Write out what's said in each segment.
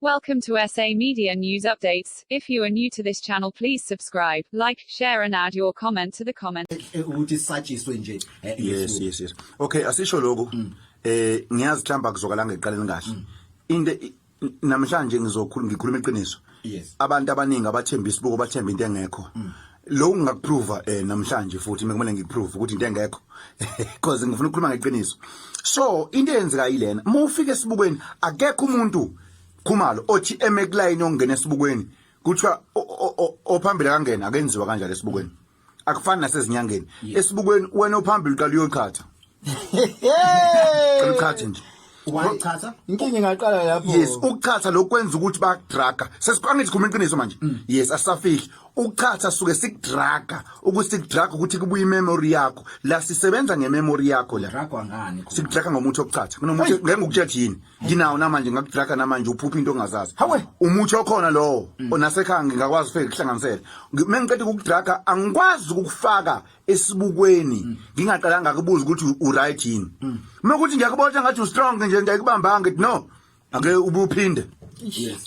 Welcome to SA Media News Updates. If you are new to this channel, please subscribe, like, share and add your comment to the comment. Eh, eh, ukuthi satshiswe nje eh, yes yes yes okay asisho lokho mm. eh ngiyazi mhlamba kuzokala ngeqaleni kahle mm. into namhlanje ngizokhuluma ngikhuluma iqiniso yes abantu abaningi abathemba isibuko bathemba into engekho mm. lo ngingakuprova eh namhlanje futhi mekumele ngikuprove ukuthi into engekho because ngifuna ukukhuluma ngeqiniso so into eyenzeka yilena uma ufika esibukweni akekho umuntu khumalo othi eme kulayini ongena esibukweni kuthiwa ophambili akangena akenziwa kanjalo esibukweni akufani nasezinyangeni esibukweni wena ophambili uqala uyoqhatha Cela uchaze nje. Wayichatha. Inkinga ingaqala lapho. Yes, ukuchatha lokwenza ukuthi bakudraga. Sesiqanga ithi khuluma iqiniso manje. Mm. Yes, asafihli. Ukuchatha suke sikudraga ukuthi sikudraga ukuthi kubuye imemory yakho. La sisebenza ngememory yakho la. Dragwa ngani khona? Sikudraga ngomuthi okuchatha. Kunomuthi ngeke ngikutshethe yini. Nginawo namanje ngakudraga namanje uphupha into ongazazi. Hawe, umuthi okhona lowo. Mm. Onasekhaya ngingakwazi feke kuhlanganisela. Mengiqeda ukudraga angikwazi ukufaka esibukweni ngingaqalanga kubuza ukuthi uright yini uma ukuthi ngiyakubona ngathi ustrong nje ngiyakubambanga ngithi no ake ubuphinde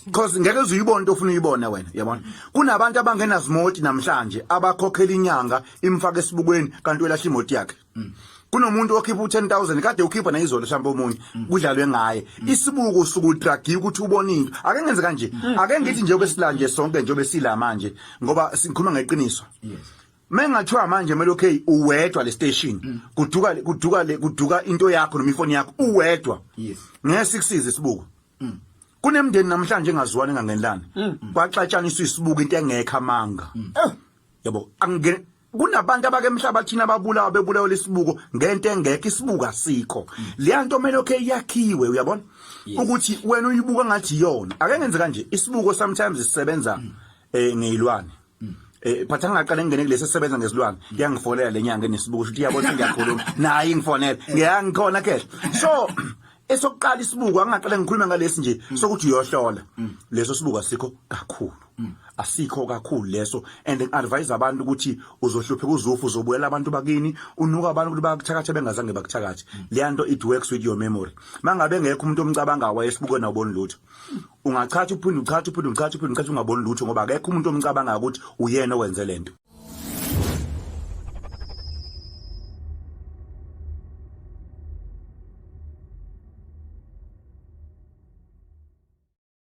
because ngeke uze uyibone into ofuna uyibone wena yabona kunabantu abangenazimoti namhlanje abakhokhela inyanga imfaka esibukweni kanti welahla imoti yakhe kunomuntu okhipha u10000 kade ukhipha nayizolo mhlawumbe omunye kudlalwe ngaye isibuko usuku udragi ukuthi ubone into ake ngenze kanje ake ngithi nje obesilanje sonke nje obesilama nje ngoba sikhuluma ngeqiniso Mengathiwa manje melo K uwedwa le station mm. kuduka kuduka le kuduka into yakho noma ifoni yakho uwedwa yes ngeke sikusize isibuko mm. kunemndeni namhlanje engaziwani engangenlana mm. kwaxatshaniswa isibuko into engekho amanga eh, yabo angene kunabantu abake emhlaba thina ababulawa bebulawa lesibuko ngento engekho isibuko asikho leya nto mele okay yakhiwe uyabona ukuthi wena uyibuka ngathi yona ake ngenze kanje isibuko sometimes sisebenza eh ngeyilwane Eh but angaqale ngene kulesi sebenza ngezilwane iyangifonela lenyanga enesibuku ukuthi iyabona ukuthi ngiyakhuluma naye ingifonela ngiyangikhona ke so esokuqala isibuku angaqale ngikhuluma ngalesi nje sokuthi uyohlola leso sibuku asikho kakhulu asikho kakhulu leso and advise abantu ukuthi uzohluphe kuzufu uzobuyela abantu bakini unuka abantu ukuthi bakuthakathe bengazange bakuthakathe leyanto it works with your memory mangabe ngekho umuntu omcabanga wayesibuke nawuboni lutho ungachatha uphinde uchatha uphinde uchatha uphinde uchatha ungaboni lutho ngoba akekho umuntu omcabanga ukuthi uyena owenze lento